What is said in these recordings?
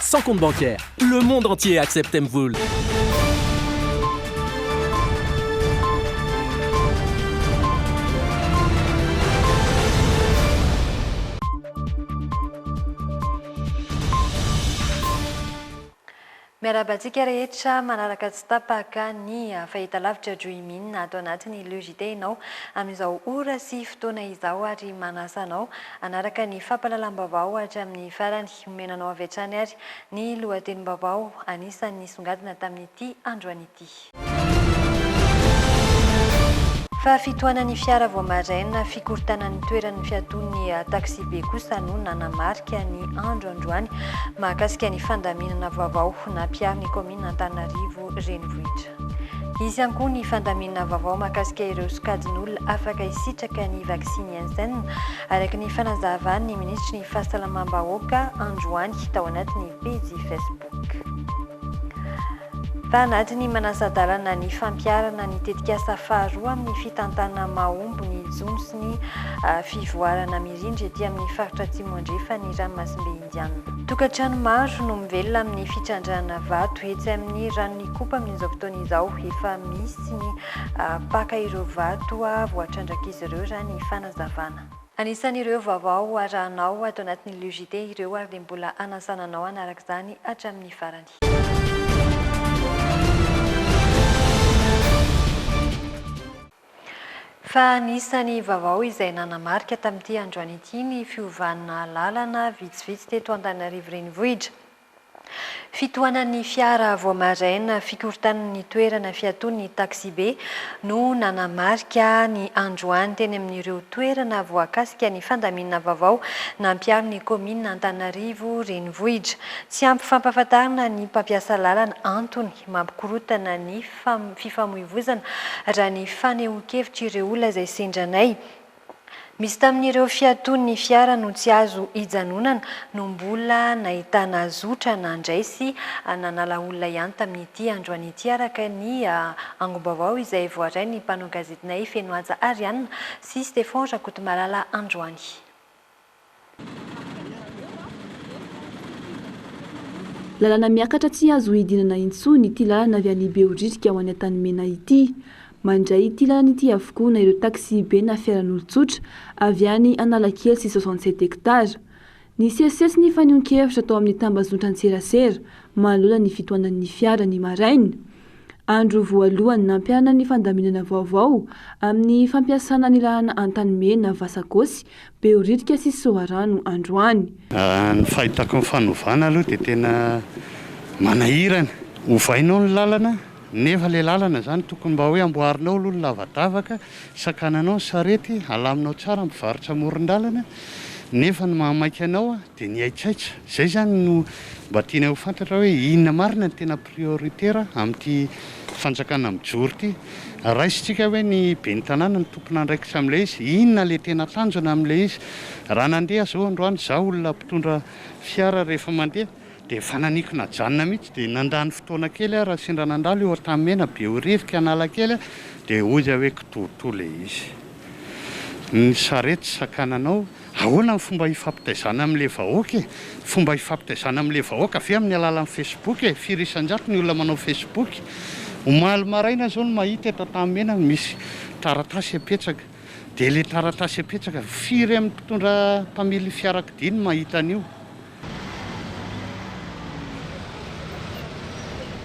Sans compte bancaire, le monde entier accepte Mvul. Miarahaba antsika rehetra manaraka tsy tapaka ny fahitalavitra Dreamin ato anatin'ny Le JT ianao amin'izao ora sy fotoana izao ary manasa anao hanaraka ny fampahalalam-baovao hatramin'ny farany. Omena anao avy hatrany ary ny lohatenim-baovao anisan'ny nisongadina tamin'ity androany ity. Fahafitohanan'ny fiara vao maraina, fikorontanan'ny toeran'ny fiatoan'ny taksibe kosa no nanamarika ny andro androany. Mahakasika ny fandaminana vaovao nampiharin'ny kaominina Antananarivo ireo renivohitra. Hisy ihany koa ny fandaminana vaovao mahakasika ireo sokajin'olona afaka hisitraka ny vaksiny Janssen, araka ny fanazavan'ny minisitry ny Fahasalamam-bahoaka androany tao anatin'ny pejy Facebook. Tao anatin'ny manasa-dalana ny fampiharana ny tetikasa faharoa amin'ny fitantanana mahomby ny jono sy ny fivoarana mirindra ety amin'ny faritra Atsimo Andrefan'ny Ranomasimbe, Indiana. Tokantrano maro no mivelona amin'ny fitrandrahana vato etsy amin'ny ranon'Ikopa amin'izao fotoana izao. Efa misy ny mpaka ireo vato voatrandrak'izy ireo raha ny fanazavana. Anisan'ireo vaovao arahanao ato anatin'ny Le JT ireo ary dia mbola hanasana anao hanaraka izany hatramin'ny farany. Fa anisan'ny vaovao izay nanamarika tamin'ity androany ity ny fiovana lalana vitsivitsy teto Antananarivo Renivohitra. Fitohanan'ny fiara vao maraina, fikorontanan'ny toerana fiatoan'ny taxibe no nanamarika ny androany teny amin'ireo toerana voakasika ny fandaminana vaovao nampiaro ny kaominina Antananarivo Renivohitra. Tsy ampy fampahafantarana ny mpampiasa lalana antony mampikorontana ny fifamoivozana, raha ny fanehoan-kevitr'ireo olona izay sendra anay. Misy tamin'ireo fiatoan'ny fiara no tsy azo hijanonana no mbola nahitana zotra nandray sy nanala olona ihany tamin'ity androany ity, araka ny angom-baovao izay voaray ny mpanao gazetinay Fenohaja Ariana sy Stefan Rakotomalala androany. Lalana miakatra tsy azo hidinana intsony ity lalana avy any Behoririka ho any Antanimena ity. Mandray ity lalana ity avokoa na ireo taxi-be na fiaran'olon-tsotra avy any Analakely sy soixante sept hectares. Nisesisesy ny fanehoan-kevitra tao amin'ny tambazotran-tserasera manoloana ny fitohanan'ny fiara ny maraina. Andro voalohany nampiharina ny fandaminana vaovao amin'ny fampiasana ny lalana Antanimena, Vasakosy, Behoririka sy Soarano androany. Raha ny fahitako ny fanovana aloha dia tena manahirana. Ovainao ny lalana nefa ilay lalana izany tokony mba hoe amboarinao aloha ny lavadavaka, sakananao ny sarety, alaminao tsara ny mpivarotra amoron-dalana nefa ny mahamaika anao Dia ny haitsaitsa. Izay izany no mba tianay ho fantatra hoe inona marina no tena prioritaire amin'ity fanjakana mijoro ity. Raisintsika hoe ny ben'ny tanàna no tompon'andraikitra amin'ilay izy. Inona ilay tena tanjona amin'ilay izy. Raha nandeha izao androany izaho olona mpitondra fiara rehefa mandeha dia efa naniko najanona mihitsy dia nandany fotoana kely aho raha sendra nandalo eo Antanimena, Behoririka, Analakely aho dia hoy aho hoe kitoatoa ilay izy. Ny sarety sakananao. Ahoana ny fomba hifampitaizana amin'ilay vahoaka e? Fomba hifampitaizana amin'ilay vahoaka ve amin'ny alalan'ny Facebook e? Firy isan-jato ny olona manao Facebook? Omaly maraina izao no mahita eto Antanimena misy taratasy apetsaka. Dia ilay taratasy apetsaka, firy amin'ny mpitondra mpamily fiarakodia no mahita an'io?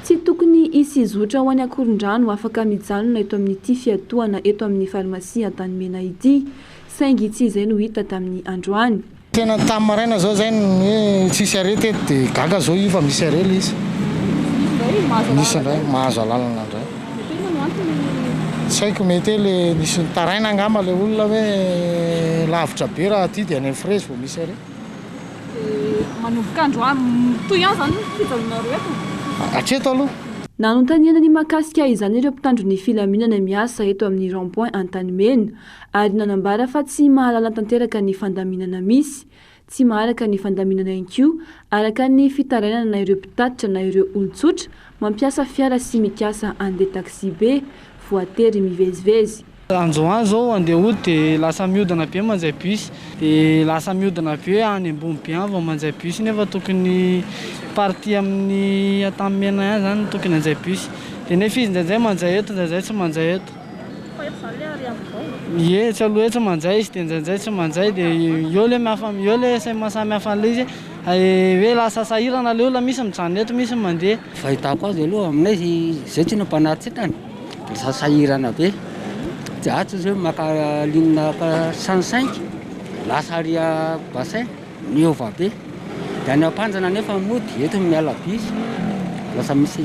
Tsy tokony hisy zotra ho any Ankorondrano afaka mijanona eto amin'ity fiatohana eto amin'ny Farmasia Antanimena ity. Saingy tsy izay no hita tamin'ny androany. Tena tamin'ny maraina zao zay ny hoe tsisy arrêt teto de gaga zao io fa misy arrêt le izy. Nisy indray mahazo alalana indray. Tsy haiko mety hoe le nisy nitaraina angamba le olona hoe lavitra be raha aty de any amin'ny frezy vao misy arrêt. Dia manomboka androany mitohy ihany izany ny fijanonanareo eto? Hatreto aloha. Nanontaniana ny mahakasika izany ireo mpitandro ny filaminana miasa eto amin'ny rond point Antanimena, ary nanambara fa tsy mahalala tanteraka ny fandaminana misy, tsy maharaka ny fandaminana inkoa araka ny fitarainana na ireo mpitatitra na ireo olon-tsotra mampiasa fiara sy mikasa handeha taxi-be, voatery mivezivezy. Andro ho any izao handeha hody dia lasa mihodina be mandray bus, dia lasa mihodina be any Ambonibe any vao mandray bus nefa tokony partie amin'ny Antanimena ihany izany no tokony handray bus, dia nefa izy indraindray mandray eto indraindray tsy mandray eto. Ie tsy aloha hoe tsy manjay izy dia njainjay tsy manjay dia eo le mihafa eo le samy mahafa an'ilay izy hoe lasa sahirana le olona misy mijanona eto misy mandeha. Fahitako azy aloha aminay izay tsy nampanary tsy tany dia lasa sahirana be dia atsy izy hoe maka linina saint cinq lasa aria bassin. Miova be. Dia any ampanjana anefa mody, eto miala by. Lasa misy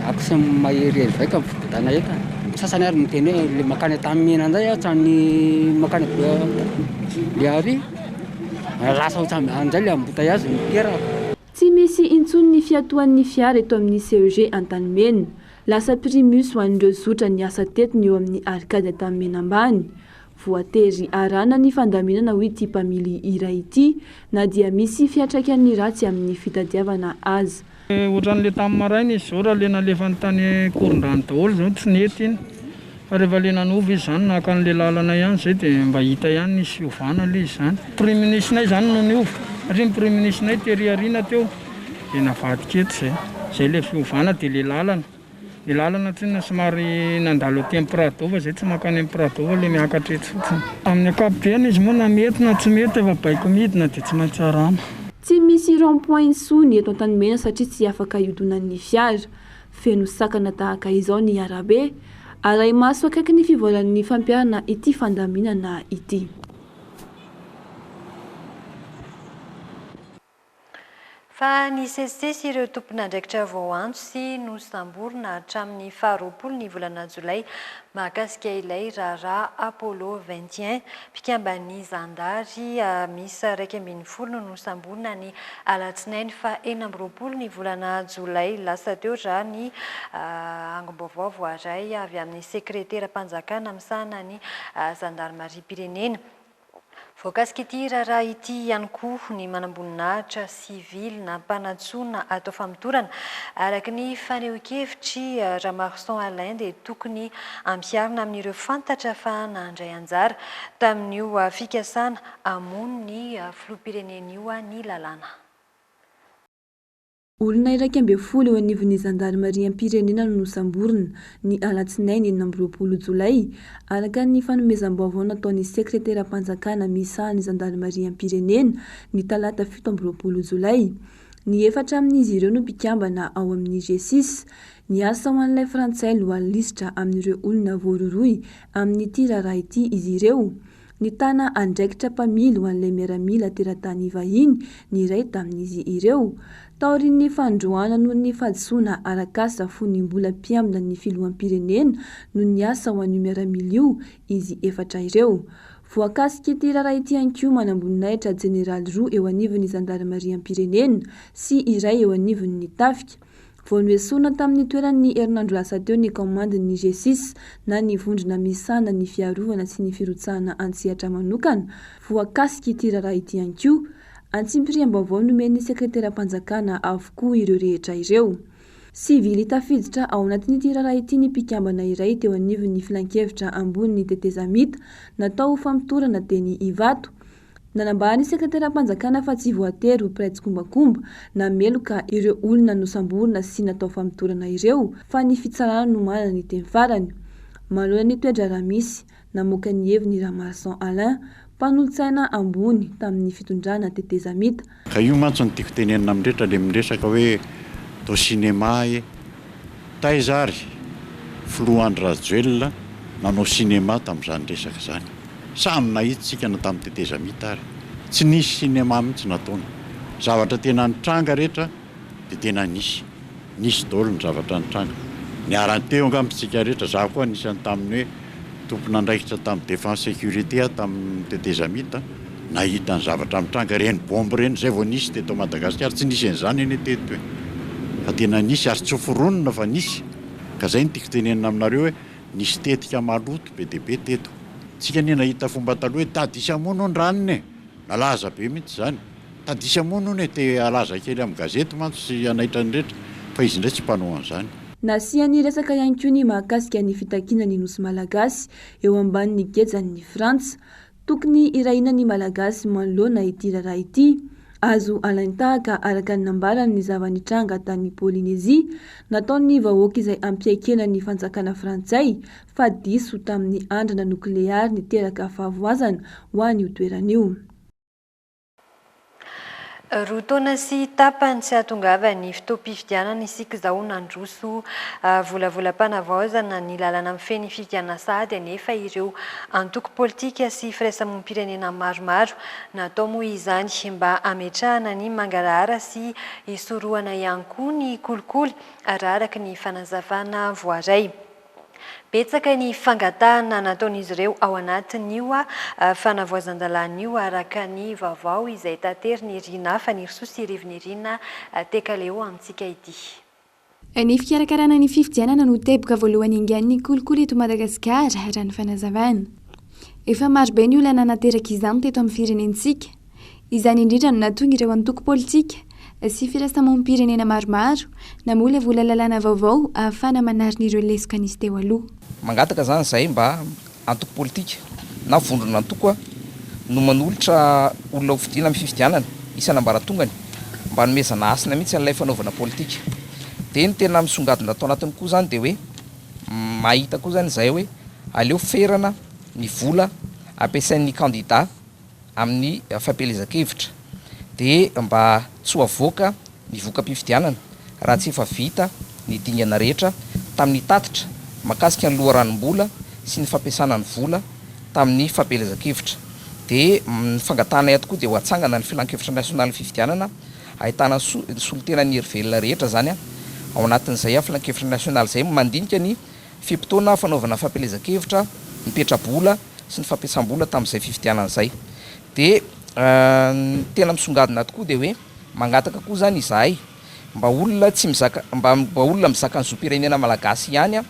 accès maherihery vaika ny fibodanay eto an. Ny sasany ary miteny hoe le makany Antanimena ndray aho hatrany makany Behoria, lasa otran'ny any ndray le ambotaiazy no teraka. Tsy misy intsony ny fiatoan'ny fiara eto amin'ny CEG Antanimena. Lasa primus ho an'ireo zotra niasa teto ny eo amin'ny Arcade Antanimena ambany. Voatery arahana ny fandaminana hoy ity mpamily iray ity na dia misy fiantraikan'ny ratsy amin'ny fitadiavana aza. Ohatran'ilay tamin'ny maraina izy izao raha ilay nalefany tany Ankorondrano daholo izao no tsy nety iny fa rehefa ilay nanova izy izany naka an'ilay lalana ihany izay dia mba hita ihany nisy fiovana aloha izy izany. Priminisnay izany no niova satria ny priminisnay tery aoriana teo dia navadika eto izay. Izay ilay fiovana dia ilay lalana. Ny lalana tsinona somary nandalo aty amin'ny Prado fa izay tsy mankany amin'ny Prado fa ilay miakatra etsy fotsiny. Amin'ny ankapobeny izy moa na mety na tsy mety efa baiko midina dia tsy maintsy tsarana. Tsy misy rond point intsony eto Antanimena satria tsy afaka hiodonan'ny fiara. Feno sakana tahaka izao ny arabe. Arahi-maso akaiky ny fivoaran'ny fampiharana ity fandaminana ity. Fa nisesisesy ireo tompon'andraikitra vao antso sy nosamborina hatramin'ny faha roapolo ny volana jolay mahakasika ilay raharaha Apollo vingt et un. Mpikamban'ny zandary miisa iraika ambin'ny folo no nosamborina ny alatsinainy faha enina amby roapolo ny volana jolay lasa teo raha ny angom-baovao voaray avy amin'ny sekreteram-panjakana misahana ny zandarimariam-pirenena. Voakasik'ity raharaha ity ihany koa ny manamboninahitra sivily nampanantsoina hatao famotorana. Araka ny fanehoan-kevitr'i Ramarson Alain dia tokony ampiharina amin'ireo fantatra fa nandray anjara tamin'io fikasana hamono ny filoham-pirenena io ny lalàna. Olona iraika ambin'ny folo eo anivon'ny zandarimariam-pirenena no nosamborina, ny alatsinainy enina amby roapolo jolay, araka ny fanomezam-baovao nataon'ny sekreteram-panjakana misaha ny zandarimariam-pirenena, ny talata fito amby roapolo jolay. Ny efatra amin'izy ireo no mpikambana ao amin'ny GSIS. Niasa ho an'ilay frantsay lohalin-lisitra amin'ireo olona voarohirohy amin'ity raharaha ity izy ireo. Nitana andraikitra mpamily ho an'ilay miaramila teratany vahiny ny iray tamin'izy ireo. Taorian'ny fanindroany noho ny fahadisoana arak'asa fony ny mbola mpiambina ny filoham-pirenena no niasa ho an'io miaramila io izy efatra ireo. Voakasik'ity raharaha ity ihany koa manamboninahitra jeneraly roa eo anivon'ny zandarimariam-pirenena sy iray eo anivon'ny tafika Vao noesorina tamin'ny toerany ny herinandro lasa teo ny kaomandin'ny GSIS na ny vondrona misahana ny fiarovana sy ny firotsahana an-tsehatra manokana voakasik'ity raharaha ity ihany koa. Antsipiriam-baovao nomen'ny sekreteram-panjakana avokoa ireo rehetra ireo. Sivily tafiditra ao anatin'ity raharaha ity ny mpikambana iray teo anivon'ny filankevitra ambony ny tetezamita natao ho famotorana teny Ivato. Nanambara ny Sekretaram-panjakana fa tsy voatery ho mpiray tsikombakomba na meloka ireo olona nosamborina sy natao famotorana ireo fa ny fitsarana no manana ny teny farany manoloana ny toe-draharaha misy. Namoaka ny heviny Ramaroson Alain, mpanolotsaina ambony tamin'ny fitondrana tetezamita, Ka io mantsy no tiako tenenina amin'ny rehetra le miresaka hoe to cinéma e! Taiza ary filoha Andry Rajoelina nanao cinéma tamin'izany resaka izany? Samy nahita isika na tamin'ny tetezamita ary. Tsy nisy cinéma mihitsy nataony. Zavatra tena nitranga rehetra. Dia tena nisy. Nisy daholo ny zavatra nitranga. Niara-niteny angamba isika rehetra, izaho koa anisan'ny tamin'ny hoe tompon'andraikitra tamin'ny défense sécurité aho tamin'ny tetezamita, nahita ny zavatra mitranga ireny bombe ireny, izay vao nisy teto Madagasikara. Tsy nisy an'izany anie teto e! Fa tena nisy ary tsy foronina fa nisy. Ka izay no tiako tenenina aminareo hoe nisy tetika maloto be dia be teto. Isika anie nahita fomba taloha hoe tadisa moa no ny ranony e! Nalaza be mihitsy izany. Tadisa moa hono e, te halaza kely amin'ny gazety mantsy sy hanaitra ny rehetra fa izy indray tsy mpanao an'izany. Nasiany resaka ihany koa ny mahakasika ny fitakiana ny Nosy Malagasy eo ambanin'ny gejan'ny Frantsa. Tokony hirahina ny Malagasy manoloana ity raharaha ity. Azo alain-tahaka araka ny nambarany ny zava-nitranga tany Polynesie, nataon'ny vahoaka izay hampiaikena ny fanjakana frantsay fa diso tamin'ny andrana nokleary niteraka fahavoazana ho an'io toerana io. Roa taona sy tapany tsy hahatongava ny fotoam-pifidianana isika izao nandroso volavolam-panavaozana ny lalana mifehy ny fifidianana sahady anefa ireo antoko politika sy firaisamoam-pirenena maromaro. Natao moa izany mba hametrahana ny mangarahara sy hisorohana ihany koa ny kolikoly raha araka ny fanazavana voaray. Betsaka ny fangatahana nataon'izy ireo ao anatin'io fanavoazan-dalàna io araka ny vaovao izay taterin'i Rinah Fanirisoa sy Rivo-Nirina Tekaleo amintsika ity. Ny fikarakarana ny fifidianana no teboka voalohany engan'ny kolikoly eto Madagasikara, raha ny fanazavana. Efa marobe ny olana naterak'izany teto amin'ny firenentsika. Izany indrindra no nahatonga ireo antoko politika sy firaisamonim-pirenena maromaro namolavola lalàna vaovao ahafahana manarina ireo lesoka nisy teo aloha. Mangataka izany izay mba antoko politika na vondron'antoko no manolotra olona hofidiana amin'ny fifidianana isan'ambaratongany mba hanomezana hasina mihitsy an'ilay fanaovana politika. Dia ny tena misongadina tao anatiny koa izany dia hoe mahita koa izany izahay hoe aleo ferana ny vola ampiasain'ny kandida, amin'ny fampielezan-kevitra dia mba tsy ho avoaka ny voka-pifidianana raha tsy efa vita ny dingana rehetra tamin'ny tatitra mahakasika ny loharanom-bola sy ny fampiasana ny vola tamin'ny fampielezan-kevitra dia ny fangatahana eto koa dia ho atsangana ny filankevitra nasionalin'ny fifidianana ahitana solontenan'ny herivelona rehetra izany ao anatin'izay filankevitra nasionaly izay mandinika ny Fe-potoana fanaovana fampielezan-kevitra, ny petra-bola sy ny fampiasam-bola tamin'izay fifidianana izay. Dia ny tena misongadina tokoa dia hoe mangataka koa izany izahay mba olona tsy mizaka, mba mba olona mizaka ny zom-pirenena malagasy ihany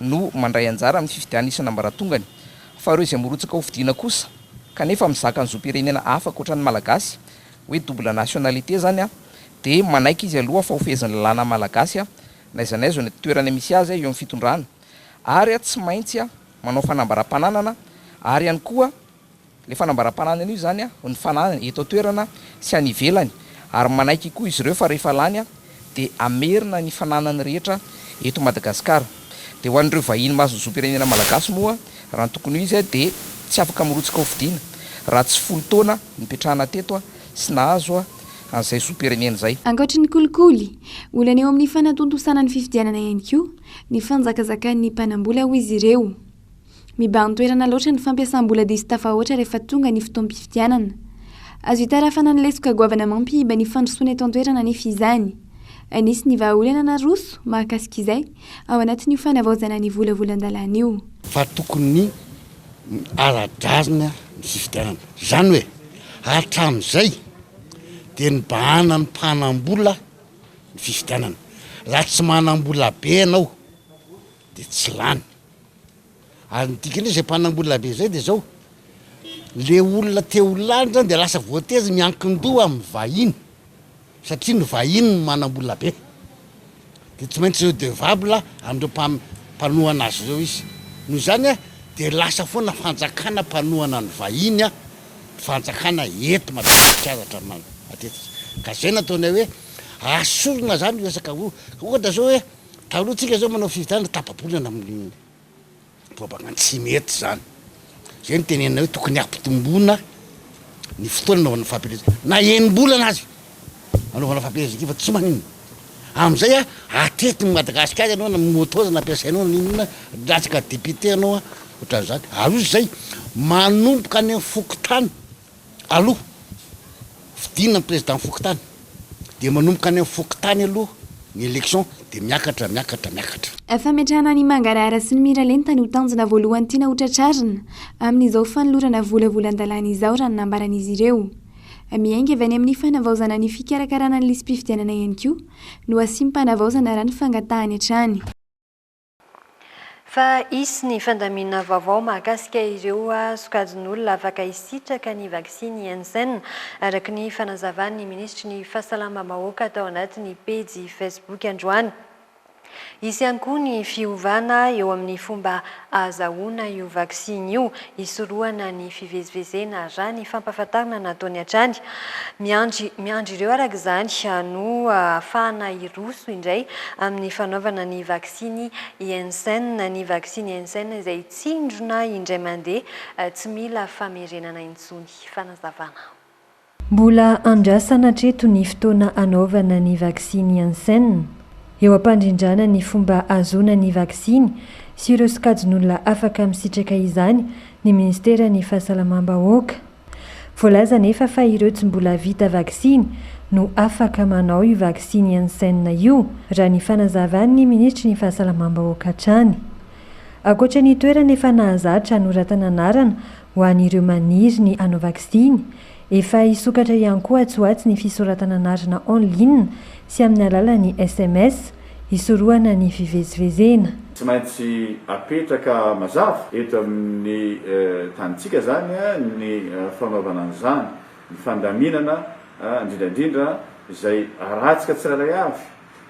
no mandray anjara amin'ny fifidianana isan'ambaratongany fa ireo izay mirotsaka hofidiana kosa kanefa mizaka ny zom-pirenena hafa ankoatra ny malagasy, hoe double nationalité izany, dia manaiky izy aloha fa hofehezin'ny lalàna malagasy n'aiza n'aiza eo ny toerana misy azy eo amin'ny fitondrana ary tsy maintsy manao fanambaram-pananana ary ihany koa ilay fanambaram-pananana io izany ny fananany eto an-toerana sy any ivelany ary manaiky koa izy ireo fa rehefa lany dia hamerina ny fananany rehetra eto Madagasikara dia ho an'ireo vahiny mahazo ny zom-pirenena malagasy moa raha ny tokony ho izy dia tsy afaka mirotsaka hofidiana raha tsy folo taona nipetrahana teto sy nahazo an'izay zom-pirenena izay. Ankoatry ny kolikoly, olana eo amin'ny fanatontosana ny fifidianana ihany koa ny fanjakazakan'ny mpanam-bola hoy izy ireo. Mibahan-toerana loatra ny fampiasam-bola diso tafahoatra rehefa tonga ny fotoam-pifidianana. Azo itarafana ny lesoka goavana mampihiba ny fandrosoana eto an-toerana anefa izany. Anisy ny vahaolana naroso mahakasika izay ao anatin'io fanavaozana ny volavolan-dalàna io. Fa tokony. ara-drariny ny fifidianana. Izany hoe, hatramin'izay dia nibahana ny mpanam-bola ny fifidianana. Raha tsy manam-bola be ianao dia tsy lany. Ary ny dikany hoe izay mpanam-bola be izay dia izao, ilay olona te ho lany izany dia lasa voatery miankin-doha amin'ny vahiny. satria ny vahiny no manam-bola be dia tsy maintsy redevable an'ireo mpanohana azy ireo izy, noho izany dia lasa foana fanjakana mpanohana ny vahiny ny fanjakana eto Madagasikara hatramin'ny matetika, ka izay no ataonay hoe asorina izany resaka ohatra izao hoe taloha tsika izao manao fifidianana tapa-bolana amin'ny. Toa baka tsy mety izany. Izay no tenenina hoe tokony hampitomboina ny fotoana anaovana fampielezana. Na enim-bolana aza anaovana fampielezana ity fa tsy maninona. Amin'izay atetin'i Madagasikara ianao na moto aza nampiasainao na inona latsaka député ianao ohatran'izany. Ary hoy izay, manomboka any amin'ny fokontany. aloha fidina ny président fokontany dia manomboka any amin'ny fokontany aloha ny élection dia miakatra miakatra miakatra. Fametrahana an'i Mangarahara sy ny Miralenta no tanjona voalohany tiana ho tratrarina amin'izao fanolorana vola volan-dalàna izao raha ny nambaran'izy ireo. Miainga avy any amin'ny fanavaozana ny fikarakarana ny lisi-pifidianana ihany koa no hasiam-panavaozana raha ny fangatahany hatrany. Fa hisy ny fandaminana vaovao mahakasika ireo sokajin'olona afaka hisitraka ny vaksiny Janssen, araka ny fanazavan'ny minisitry ny Fahasalamam-bahoaka tao anatin'ny pejy Facebook androany. Hisy ihany koa ny fiovana eo amin'ny fomba ahazahoana io vaksiny io. hisorohana ny fivezivezena, raha ny fampahafantarana nataony hatrany. Miandry miandry ireo araka izany no hahafahana hiroso indray amin'ny fanaovana ny vaksiny Janssen, ny vaksiny Janssen izay tsindrona indray mandeha tsy mila famerenana intsony. Fanazavana. Mbola andrasana hatreto ny fotoana hanaovana ny vaksiny Janssen. Eo am-pandrindrana ny fomba hahazoana ny vaksiny sy ireo sokajin'olona afaka misitraka izany ny Ministeran'ny Fahasalamam-bahoaka. Voalaza anefa fa ireo tsy mbola vita vaksiny no afaka manao io vaksiny Janssen io, raha ny fanazavan'ny Minisitry ny Fahasalamam-bahoaka hatrany. Ankoatra ny toerana efa nahazatra hanoratana anarana Ho an'ireo maniry ny hanao vaksiny, efa hisokatra ihany koa atsy ho atsy ny fisoratana anarana en ligne sy amin'ny alalan'ny sms, hisorohana ny fivezivezena. Tsy maintsy apetraka mazava eto amin'ny tanintsika izany ny fanaovana an'izany, ny fandaminana indrindra indrindra izay haratsika tsirairay avy.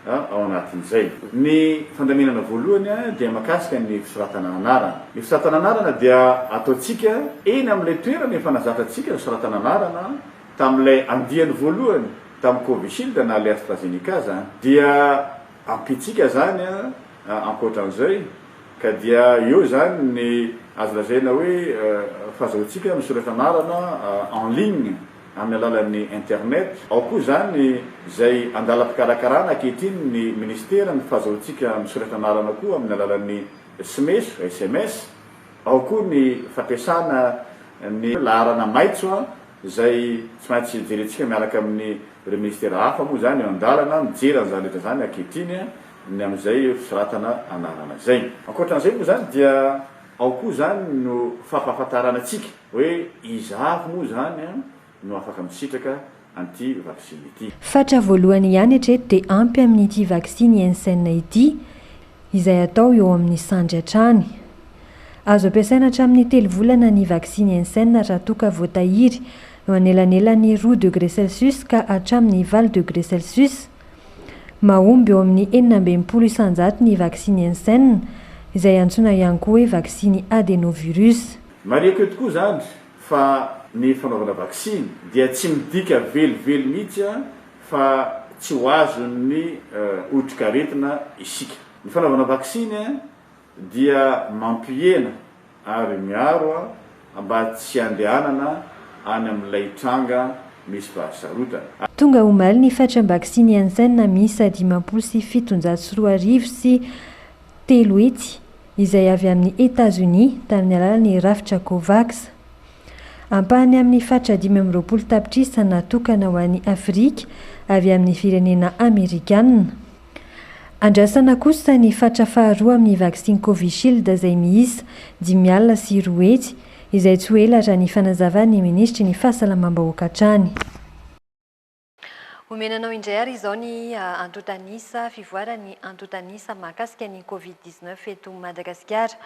ao anatin'izay. Ny fandaminana voalohany dia mahakasika ny fisoratana anarana. Ny fisoratana anarana dia ataontsika eny amin'ilay toerana efa nazatratsika ny fisoratana anarana tamin'ilay andiany voalohany tamin'ny Covishield na ilay AstraZeneca aza dia ampiantsika izany ankoatran'izay ka dia eo izany ny azo lazaina hoe fahazahoantsika misoratra anarana en ligne. amin'ny alalan'ny internet. Ao koa izany izay andalam-pikarakarana ankehitriny ny Ministera ny fahazoantsika misoratra anarana koa amin'ny alalan'ny sms, sms. Ao koa ny fampiasana ny laharana maitso izay tsy maintsy jerentsika miaraka amin'ireo Ministera hafa moa izany eo an-dalana mijery an'izany rehetra izany ankehitriny ny amin'izay fisoratana anarana izay. Ankoatra an'izay moa izany dia ao koa izany no fampahafantarana antsika. Hoe iza avy moa izany no afaka misitraka an'ity vaksiny ity? Fatra voalohany ihany hatreto dia ampy amin'ity vaksiny Janssen ity, izay atao eo amin'ny sandry hatrany. Azo ampiasaina hatramin'ny telo volana ny vaksiny Janssen raha toa ka voatahiry eo anelanelan'ny roa degre celsius ka hatramin'ny valo degre celsius. Mahomby eo amin'ny enina amby enimpolo isanjato ny vaksiny Janssen, izay antsoina ihany koa hoe vaksiny adenovirus. Marihiko eto koa izany fa ny fanaovana vaksiny dia tsy midika velively mihitsy fa tsy ho azon'ny otrikaretina isika. Ny fanaovana vaksiny dia mampihena ary miaro mba tsy handehanana any amin'ilay tranga misy fahasarotana. Tonga omaly ny fatram-baksiny Janssen miisa dimampolo sy fitonjato sy roa arivo sy telo hetsy. izay avy amin'i Etazonia tamin'ny alalan'ny rafitra Covax. Ampahany amin'ny faritra dimy amby roapolo tapitrisa natokana ho an'i Afrika avy amin'ny firenena Amerikana. Andrasana kosa ny faritra faharoa amin'ny vaksiny Covishield izay miisa dimy alina sy roa hetsy, izay tsy ho ela raha ny fanazavan'ny minisitry ny Fahasalamam-bahoaka hatrany. Omena anao indray ary izao ny antontanisa fivoaran'ny antontanisa mahakasika ny Covid 19 eto Madagasikara.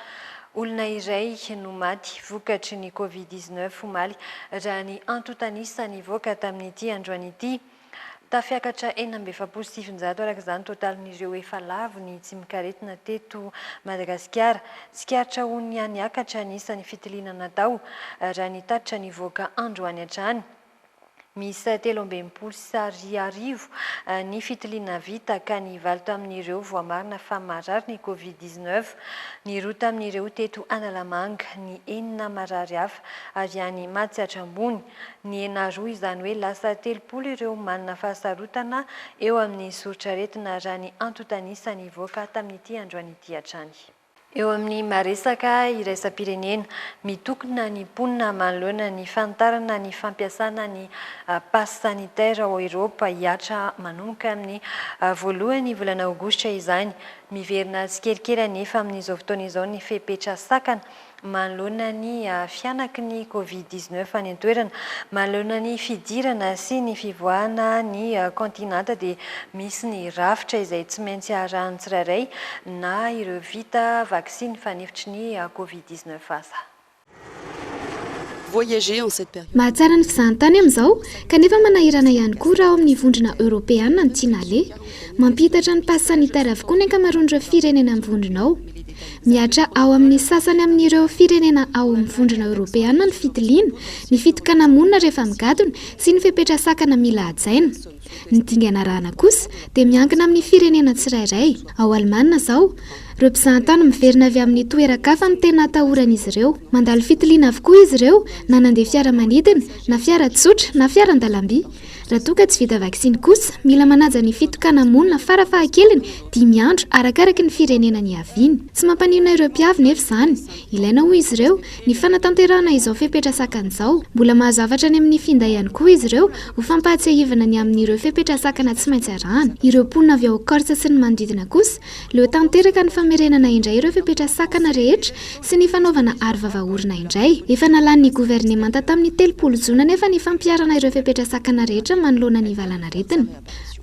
Olona iray no maty vokatry ny Covid 19 omaly raha ny antontanisa nivoaka tamin'ity androany ity. Tafiakatra enina amby efapolo sy sivinjato araka izany totalin'ireo efa lavo ny tsimok'aretina teto Madagasikara. Tsikaritra ho nihaniakatra ny isan'ny fitiliana natao raha ny tatitra nivoaka androany hatrany. miisa telo amby enimpolo sy Ar arivo ny fitiliana vita ka ny valo tamin'ireo voamarina fa marary ny Covid dix neuf, ny roa tamin'ireo teto Analamanga, ny enina marary hafa ary any Matsiatra Ambony. Nihena roa izany hoe lasa telopolo ireo manana fahasarotana eo amin'ny soritr'aretina raha ny antontan'isa nivoaka tamin'ity androany ity hatrany. Eo amin'ny maha-resaka iraisam-pirenena, mitokona ny mponina manoloana ny fanitarana ny fampiasana ny Pass Sanitaire ao Eoropa hihatra manomboka amin'ny voalohan'ny volana Aogositra izany. Miverina tsikelikely anefa amin'izao fotoana izao ny fepetra sakana manoloana ny fihanaky ny Covid dix neuf any an-toerana, manoloana ny fidirana sy ny fivoahana ny kaontinanta dia misy ny rafitra izay tsy maintsy arahan'ny tsirairay na ireo vita vaksiny fanefitry ny Covid dix neuf aza. Mahatsara ny fizahantany amin'izao, kanefa manahirana ihany koa raha ao amin'ny Vondrona Eoropeana ny tsy naleha. Mampihitatra ny pass sanitaire avokoa ny ankamaroan'ireo firenena amin'ny vondrona ao. Mihatra ao amin'ny sasany amin'ireo firenena ao amin'ny Vondrona Eoropeana ny fitiliana, ny fitokana-monina rehefa migadona sy ny fepetra sakana mila hajaina. Ny dingana arahana kosa dia miankina amin'ny firenena tsirairay. Ao Alemana izao, ireo mpizahantany miverina avy amin'ny toeran-kafa no tena atahoran'izy ireo. Mandalo fitiliana avokoa izy ireo, na nandeha fiaramanidina, na fiara tsotra, na fiaran-dalamby. Raha toa ka tsy vita vaksiny kosa, mila manaja ny fitokana-monina farafahakeliny dimy andro arakaraka ny firenena niaviany. Tsy mampaninona ireo mpiavy nefa izany. Ilaina hoy izy ireo, ny fanatanterahana izao fepetra sakana izao. Mbola mahazavatra any amin'ny finday ihany koa izy ireo ho fampahatsiahivana ny amin'ireo fepetra sakana tsy maintsy arahana. Ireo mponina avy ao Corse sy ny manodidina kosa Leo tanteraka ny famerenana indray ireo fepetra sakana rehetra sy ny fanaovana arovava orona indray. Efa nalan'ny governemanta tamin'ny telopolo jona anefa ny fampiharana ireo fepetra sakana rehetra manoloana ny valanaretina.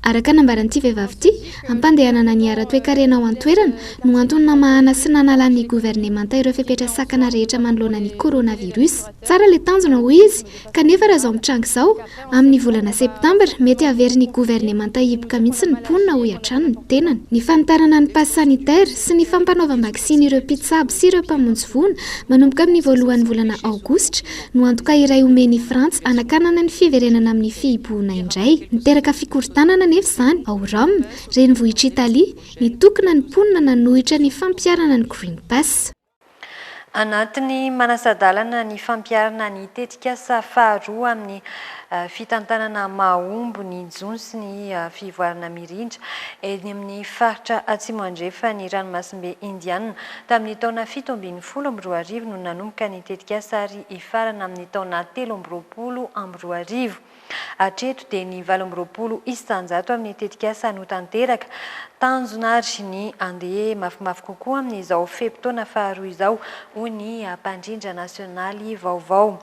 Araka ny nambaran'ity vehivavy ity, hampandehanana ny ara-toekarena ao an-toerana no antony namahana sy nanalan'ny governemanta ireo fepetra sakana rehetra manoloana ny coronavirus. Tsara ilay tanjona, hoy izy, Kanefa raha izao mitranga izao, amin'ny volana septambra, mety haverin'ny governemanta hipoka mihitsy ny mponina, hoy hatrany ny tenany. Ny fanitarana ny pass sanitaire sy ny fampanaovam-baksiny ireo mpitsabo sy ireo mpamonjy voina manomboka amin'ny voalohan'ny volana aogositra no antoka iray omen'i Frantsa hanakanana ny fiverenana amin'ny fihibohona indray. Niteraka fikorontanana anefa izany ao Rome, renivohitr'Italia, nitokona ny mponina nanohitra ny fampiharana ny Green Pass. Anatin'ny manasa-dalana ny fampiharana ny tetikasa faharoa amin'ny fitantanana mahomby ny jono sy ny fivoarana mirindra eny amin'ny faritra Atsimo Andrefan'ny Ranomasimbe Indianina. Tamin'ny taona fito ambin'ny folo amby roa arivo no nanomboka ny tetikasa ary hifarana amin'ny taona telo amby roapolo amby roa arivo. Hatreto dia ny valo amby roapolo isan-jato amin'ny tetikasa no tanteraka. Tanjona ary ny handeha mafimafy kokoa amin'izao fe-potoana faharoa izao, hoy ny mpandrindra nasionaly vaovao.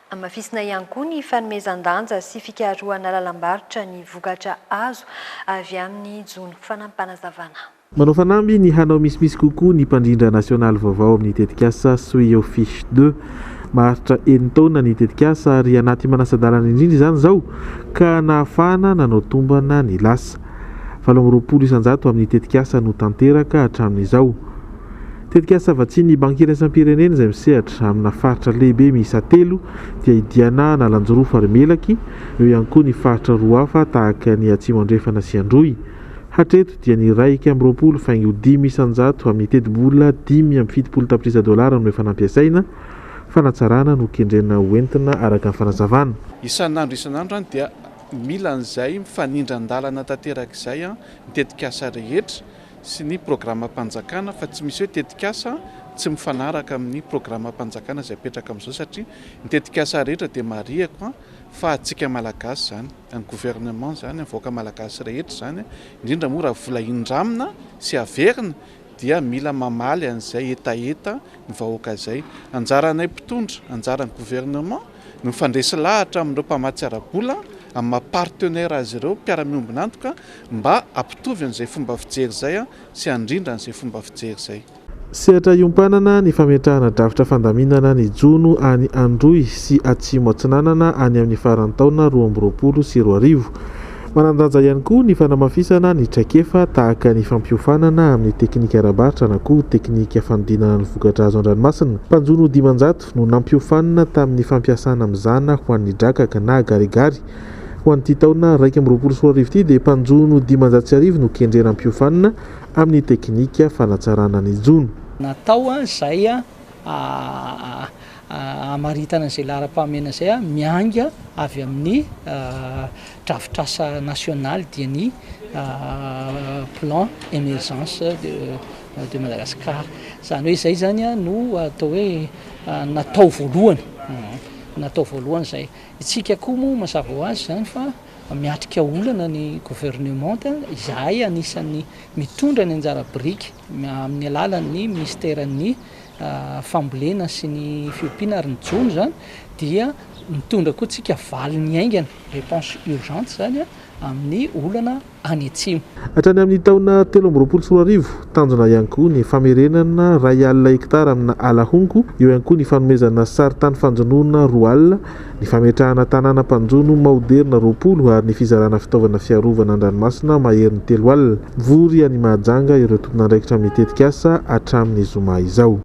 Hamafisina ihany koa ny fanomezan-danja sy fikarohana lalam-barotra ny vokatra azo avy amin'ny jono, fanampim-panazavana. Manao fanamby ny hanao misimisy kokoa ny mpandrindra nasionaly vaovao amin'ny tetikasa Sois your fiche de. Maharitra enin-taona ny tetikasa ary anaty manasa-dalana indrindra izany izao ka nahafahana nanao tombana ny lasa. Valo amby roapolo isan-jato amin'ny tetikasa no tanteraka hatramin'izao. Tetikasa vatsian'ny Banky Iraisam-pirenena izay misehatra amina faritra lehibe miisa telo dia i Diana Analanjirofo ary Melaky, eo ihany koa ny faritra roa hafa tahaka ny Atsimo Andrefana sy Androy. Hatreto dia ny iray ika amby roapolo faingo dimy isan-jato amin'ny tetibola dimy amby fitopolo tapitrisa dolara no efa nampiasaina. Fanatsarana no kendrena ho entina araka ny fanazavana. Isan'andro isan'andro dia mila an'izay mifanindran-dalana tanteraka izay ny tetikasa rehetra sy ny programam-panjakana fa tsy misy hoe tetikasa tsy mifanaraka amin'ny programam-panjakana izay apetraka amin'izao satria ny tetikasa rehetra dia marihiko fa antsika malagasy izany. Ny gouvernement izany ny vahoaka malagasy rehetra izany indrindra moa raha vola indramina sy averina dia mila mamaly an'izay hetaheta ny vahoaka izay. Anjaranay mpitondra, anjaran'ny gouvernement ny mifandresy lahatra amin'ireo mpamatsy ara-bola amin'ny maha partenaire azy ireo, mpiara-miombon'antoka, mba hampitovy an'izay fomba fijery izay sy handrindra an'izay fomba fijery izay. Sehatra hiompanana ny fametrahana drafitra fandaminana ny jono any Androy sy Atsimo Atsinanana any amin'ny faran'ny taona roa amby roapolo sy roa arivo. Manan-danja ihany koa ny fanamafisana ny traikefa tahaka ny fampiofanana amin'ny teknika ara-barotra na koa teknika fanodinana ny vokatra azo an-dranomasina. Mpanjono dimanjato no nampiofanina tamin'ny fampiasana mizana ho an'ny drakaka na garigary. Ho an'ity taona iraika amby roapolo sy roa arivo ity dia mpanjono dimanjato sy arivo no kendrena hampiofanina amin'ny teknika fanatsarana ny jono. Natao izay hamaritana izay laharam-pahamehana izay miainga avy amin'ny drafitr'asa nasionaly dia ny Plan Emergence de Madagascar. Izany hoe izay izany no atao hoe natao voalohany, natao voalohany izay. Isika koa moa mazava ho azy izany fa. Miatrika olana ny governemanta, izahay anisan'ny mitondra ny anjara biriky amin'ny alalan'ny minisiteran'ny fambolena sy ny fiompiana ary ny jono izany dia mitondra koa tsika valiny haingana, reponse urgente, izany amin'ny olana any atsimo. Hatrany amin'ny taona telo amby roapolo sy roa arivo, tanjona ihany koa ny famerenana iray alina hektara amina ala honko, eo ihany koa ny fanomezana sary tany fanjonoana roa alina, ny fametrahana tanàna mpanjono maoderina roapolo ary ny fizarana fitaovana fiarovana an-dranomasina maherin'ny telo alina. Mivory any Mahajanga ireo tompon'andraikitra amin'ny tetikasa hatramin'ny zoma izao.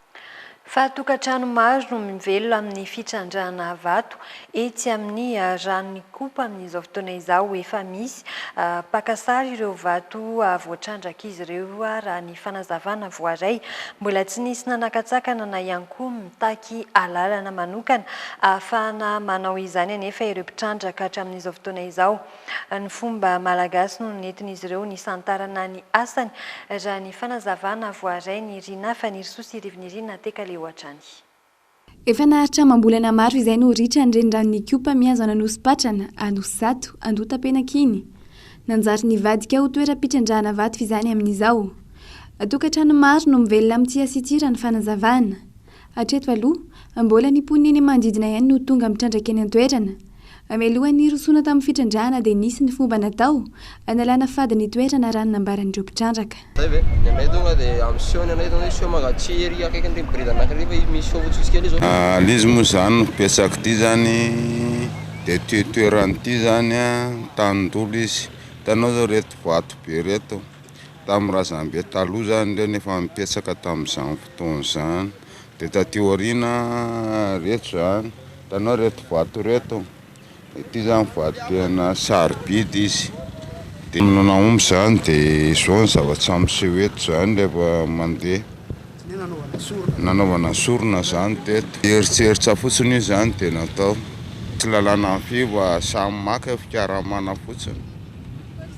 Fa tokantrano maro no mivelona amin'ny fitrandrahana vato etsy amin'ny ranon'Ikopa amin'izao fotoana izao. Efa misy mpaka sary ireo vato voatrandrak'izy ireo raha ny fanazavana voaray. Mbola tsy nisy nanakatsakana na ihany koa Mitaky alalana manokana ahafahana manao izany anefa ireo mpitrandraka hatramin'izao fotoana izao. Ny fomba malagasy no nentin'izy ireo nisantarana ny asany, raha ny fanazavana voaray ny Rina Fanirisoa sy Rivinirina Tekaleo hatrany. Efa naharitra amam-bolana maro izay no ritra ny reniranon'Ikopa mihazo an'Anosipatrana, Anosizato, Andotapenaka iny. Nanjary nivadika ho toeram-pitrandrahana vato izany amin'izao. Tokantrano maro no mivelona amin'ny tsia sy tia raha ny fanazavana. Hatreto aloha, mbola ny mponina eny manodidina ihany no tonga mitrandraka eny an-toerana. Mialohan'ny hirosoana tamin'ny fitrandrahana dia nisy ny fomba natao hanalana fady ny toerana raha ny nambaran'ireo mpitrandraka. Zay ve? Ny anay tonga de am seho ny anay tonga seho mangatsihy ery akaikin ny brigade anakiriva izy misy seho fotsifotsy kely zao. Ilay izy moa izany no betsaka ity izany dia ity toerana ity izany tanin-dolo izy, hitanao izao ireto vato be ireto tamin'ny razambe taloha izany ireo no efa nipetraka tamin'izany fotoana izany, dia taty aoriana ireto izany, hitanao ireto vato ireto. Ity izany vato-toerana sarobidy izy dia no nahomby izany dia izao ny zavatra miseho eto izany rehefa mandeha nanaovana sorona izany teto eritseritra fotsiny io izany dia natao tsy lalàna fy fa samy maka fikaramana fotsiny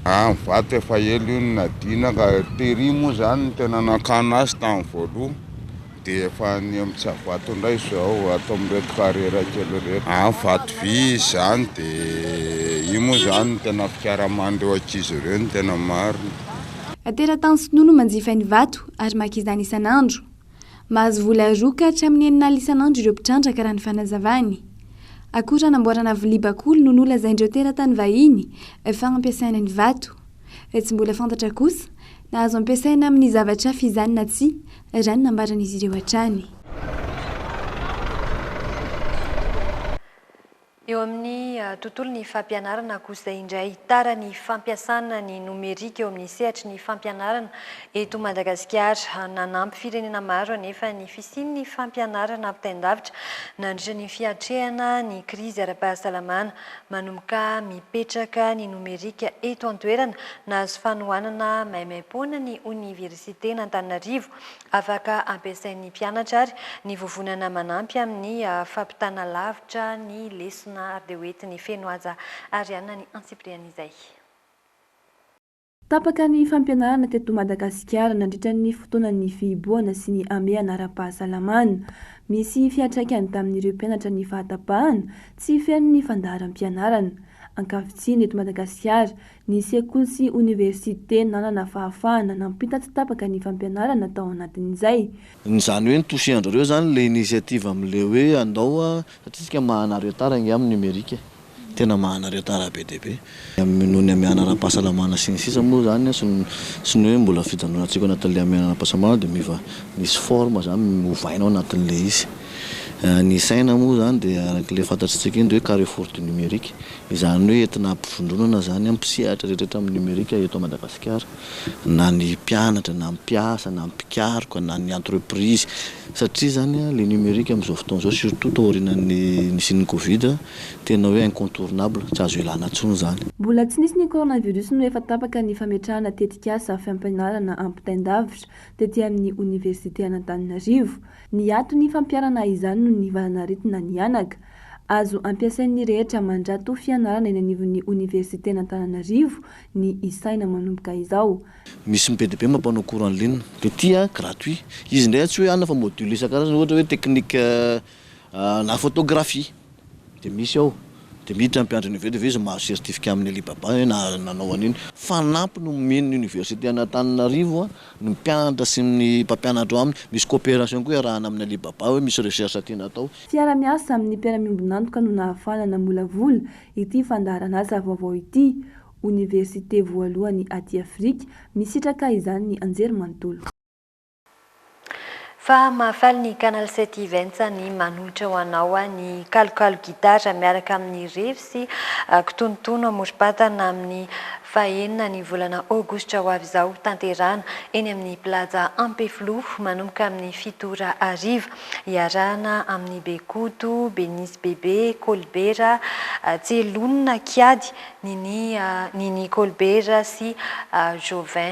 ah ny vato efa ela io no nadiana ka tery moa izany no tena nakana azy tamin'ny voaloha Dia efa any amin'ny Tsiafato indray izao ato amin'ireto carrière kely ireto. Any Vatovy izy any dia io moa izany no tena fikaraman'ireo ankizy ireo ny tena marina. Teratany sinoa no manjifa ny vato ary maka izany isan'andro. Mahazo vola roa ka hatramin'ny enin'alina isan'andro ireo mpitrandraka raha ny fanazavany. Akora anamboarana vilia bakoly no nolazain'ireo teratany vahiny fa ampiasaina ny vato. Raha tsy mbola fantatra kosa na azo ampiasaina amin'ny zavatra hafa izany na tsia, raha ny nambaran'izy ireo hatrany. Eo amin'ny tontolon'ny fampianarana kosa indray, tara ny fampiasana ny nomerika eo amin'ny sehatry ny fampianarana eto Madagasikara. Nanampy firenena maro anefa ny fisian'ny fampianarana ampitain-davitra nandritra ny fiatrehana ny krizy ara-pahasalamana Manomboka mipetraka ny nomerika eto an-toerana. Nahazo fanohanana maimaim-poana ny Oniversiten'Antananarivo. Afaka ampiasain'ny mpianatra ary ny vovonana manampy amin'ny fampitana lavitra ny lesona ary dia hoentin'ny Fenohaja Ariana ny antsipiriany izay. Tapaka ny fampianarana teto Madagasikara nandritra ny fotoanan'ny fihibohana sy ny hamehana ara-pahasalamana. Misy fiantraikany tamin'ireo mpianatra ny fahatabahana tsy feno ny fandaharam-pianarana. Ankavitsiana eto Madagasikara, ny sekoly sy oniversite nanana fahafahana nampita tsy tapaka ny fampianarana tao anatin'izay. Izany hoe ny toucher-ndrareo izany ilay initiative amin'ilay hoe andao satria isika maha anareo tara ange amin'ny numérique e. Tena mahanareo tara be dia be. Noho ny hamehana ara-pahasalamana sy ny sisa moa izany sy ny sy ny hoe mbola fijanonantsika ao anatin'ilay hamehana ara-pahasalamana dia miova misy forme izany ovaina ao anatin'ilay izy. Ny saina moa izany dia araka ilay fantatsika iny dia hoe carrefour du numérique. Izany hoe entina ampivondronana izany mpisehatra rehetra rehetra amin'ny nomerika eto Madagasikara. Na ny mpianatra na ny mpiasa na ny mpikaroka na ny entreprise satria izany ilay nomerika amin'izao fotoana izao surtout taorianan'ny nisian'ny covid. Tena hoe incontournable, tsy azo ialana intsony izany. Mbola tsy nisy ny coronavirus no efa tapaka ny fametrahana tetikasa fampianarana ampitain-davitra tety amin'ny oniversite an'Antananarivo. Niato ny fampiharana izany noho ny valan'aretina nihanaka. Azo ampiasain'ny rehetra mandrato fianarana eny anivon'ny oniversiten'Antananarivo ny isaina manomboka izao. Misy ny PDB mampanao cours en ligne. Petit an, gratuit. Izy indray tsy hoe hanina fa module isan-karazany, ohatra hoe technique. La photographie de misy ao de miditra ny mpiandry université de ve izy mahazo certificat amin'ny Alibaba hoe na nanao an'iny. Fanampi no omen'ny université an'Antananarivo ny mpianatra sy ny mpampianatra ao aminy, misy coopération koa iarahana amin'ny Alibaba hoe misy recherche tiana atao, Fiara-miasa amin'ny mpiara-miombon'antoka no nahafahana namolavola ity fandaharan'asa vaovao ity, Oniversite voalohany aty Afrika, misitraka izany ny Anjerimanontolo. Fa mahafaly ny Canal sept Events ny manohitra ho anao ny kalokalo gitara miaraka amin'ny revy sy kitonotono amorom-patana amin'ny faha enina ny volana aogositra ho avy izao tanterahana eny amin'ny Plaza Ampefiloha manomboka amin'ny fito ora hariva iarahana amin'i Bekoto, Benise Bebe, Kolibera, Tselonina, Kiady, Nini Nini Kolibera sy Jovin.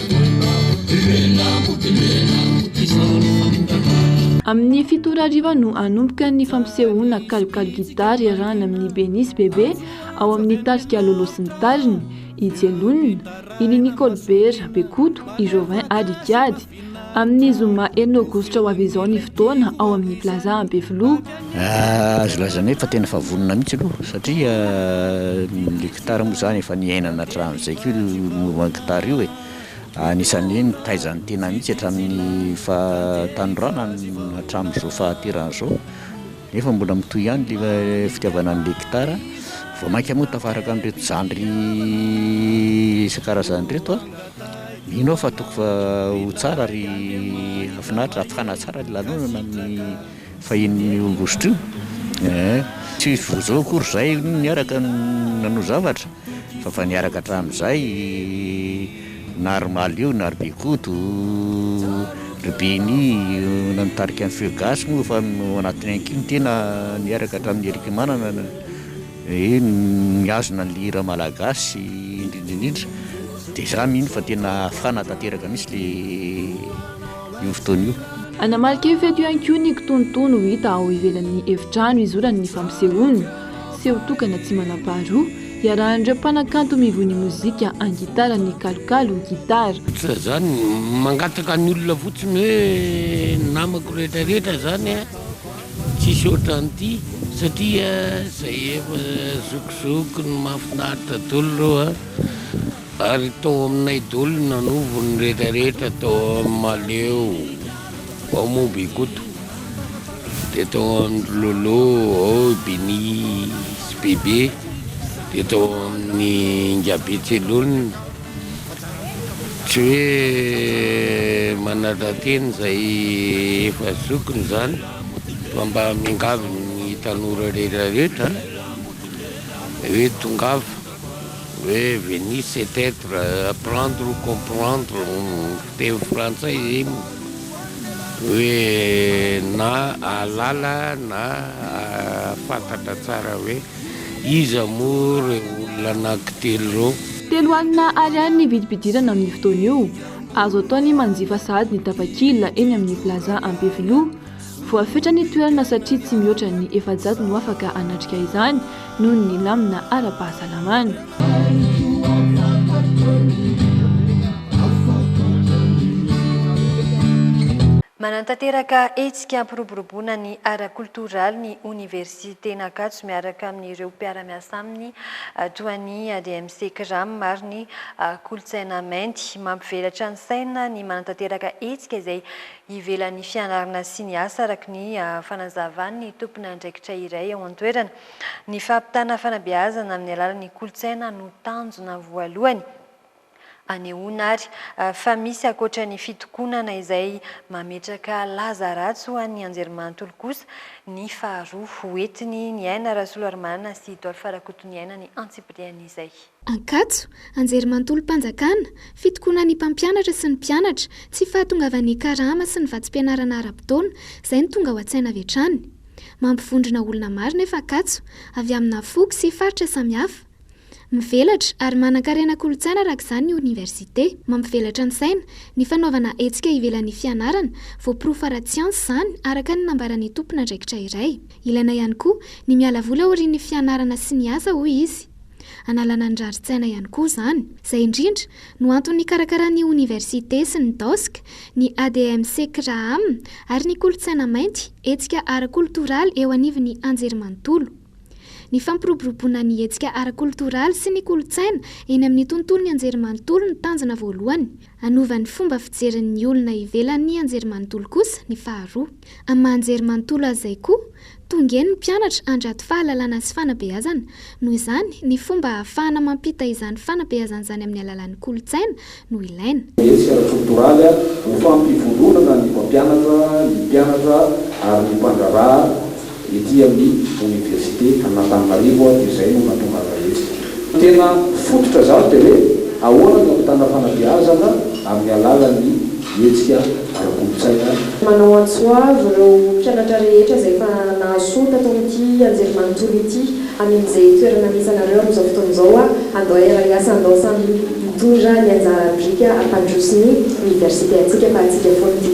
Amin'ny fito ora hariva no hanomboka ny fampisehoana kalokalo gitara iarahana amin'ny Benisy Bebe ao amin'ny tarika Lolo sy ny tariny, i Jelona, i Nini Kolbera, Bekoto, i Joven ary i Kiady. Amin'ny zoma enina aogositra ho avy izao ny fotoana ao amin'ny Plaza Ampefiloha. Azo lazaina hoe fa tena efa vonona mihitsy aloha satria le gitara moa zany efa niainana hatramin'izay koa io mouvement gitara io e, anisan'ny hoe nitaiza ny tena mihitsy hatramin'ny fahatanorana hatramin'izao fahaterahana izao nefa mbola mitohy ihany le fitiavana an'le gitara, vao mainka moa tafaraka an'ireto zandry isan-karazany ireto aho, mino aho fa tokony fa ho tsara ary hahafinaritra, hafana tsara ny lanonana amin'ny Fa inona io Augusto io eh? Tsy vao zao akory zahay niaraka nanao zavatra fa fa niaraka hatramin'izay, na ry Malio na ry Bikoto, ry Benny na nitarika ny Feu gasy moa efa ao anatiny ihany koa ny tena niaraka hatramin'i Erick Manana eh, nihazona ny hira malagasy indrindra indrindra, de za mino fa tena hafana tanteraka mihintsy le. io fotoana io. Hanamarika io fety io ihany koa ny kitonotono ho hita ao ivelan'ny efitrano hizorany ny fampisehoana, seho tokana tsy manam-paharoa, iarahan'ireo mpanakanto mivoy ny mozika an-gitara ny kalokalo gitara. Tsy izany, mangataka ny olona fotsiny hoe namako rehetrarehetra izany a, tsisy ohatran'ity satria izay efa zokizoky no mahafinaritra daholo ireo a. Ary tao aminay doly nanovo ny rehetra rehetra tao am maleo ao momba i koto de tao amindry lolo ao i bini sy bebe de tao aminy ingabe tselolina tsy hoe manadrateny zay efa zokiny zany fa mba miangavy ny tanora rehetra rehetra hoe tongava Hoe venir c'est etre, apprendre ou comprendre hono ny fiteny frantsay iny hoe na ahalala na ahafantatra tsara hoe iza moa ireo olona anankitelo ireo. Telo alina ariary ny vidim-pidirana amin'io fotoana io. Azo atao ny manjifa sahady ny tapakila eny amin'ny Plaza Ampefiloha. Voafetra ny toerana satria tsy mihoatra ny efajato no afaka hanatrika izany noho ny lamina ara-pahasalamana. Manantanteraka hetsika hampiroboroboana ny ara-koltoraly ny Oniversiten'Ankatso miaraka amin'ireo mpiara-miasa aminy toa ny ADMC Cram ary ny Kolontsaina Mainty. Mampivelatra ny saina ny manantanteraka hetsika izay ivelan'ny fianarana sy ny asa, araka ny fanazavan'ny tomponandraikitra iray ao an-toerana. Ny fampitana fanabeazana amin'ny alalan'ny kolontsaina no tanjona voalohany. Anehoana ary fa misy ankoatra ny fitokonana izay mametraka laza ratsy ho an'ny anjerimanontolo kosa ny faharoa hoentiny ny aina Rasolarimanana sy Dolph Rakotoniaina ny antsipirian'izay. Ankatso, Anjerimanontolom-panjakana, Fitokonana ny mpampianatra sy ny mpianatra, tsy fahatongavan'ny karama sy ny vatsim-pianarana ara-potoana, izay no tonga ao an-tsaina avy hatrany. Mampivondrona olona maro nefa Ankatso, avy amina foko sy faritra samihafa. Mivelatra ary manan-karena kolontsaina araka izany ny oniversite. Mampivelatra ny saina, ny fanaovana hetsika ivelan'ny fianarana, voaporofo ara-tsiansa izany, araka ny nambaran'ny tompon'andraikitra iray. Ilaina ihany koa ny miala voly aorian'ny fianarana sy ny asa, hoy izy. Hanalana ny rarin-tsaina ihany koa izany. Izay indrindra no antony nikarakaran'ny Oniversite sy ny Dosk, ny ADMC CRAAM ary ny Kolontsaina Mainty hetsika ara-kolotoraly eo anivon'ny Anjerimanontolo. Ny fampiroboroboana ny hetsika ara-kolotoraly sy ny kolontsaina eny amin'ny tontolon'ny Anjerimanontolo no tanjona voalohany. Hanova ny fomba fijerin' ny olona ivelan' ny anjerimanontolo kosa ny faharoa. Amin'ny maha anjerimanontolo azy izay koa, tongen' ny mpianatra handrato fahalalana sy fanabeazana. Noho izany, ny fomba hahafahana mampita izany fanabeazana izany amin'ny alalan' ny kolontsaina no ilaina. Hetsika ara-tsotoraly ho fampivondronana ny mpampianatra, ny mpianatra ary ny mpandraharaha. Ety amin'ny Oniversite an'Antananarivo aho dia izay no nahatongavako etsy. Tena fototra izany dia hoe ahoana ny hampitana fanabeazana amin'ny alalan'ny hetsika ara-kolontsaina. Manao antso ho avy ireo mpianatra rehetra izay efa nahasoa tato amin'ity anjerimanontolo ity hamin'izay toerana misy anareo amin'izao fotoana izao aho. Andao hiara-hiasa, andao samy hitondra ny anjara biriky hampandroso ny Oniversite antsika fa antsika foana ity.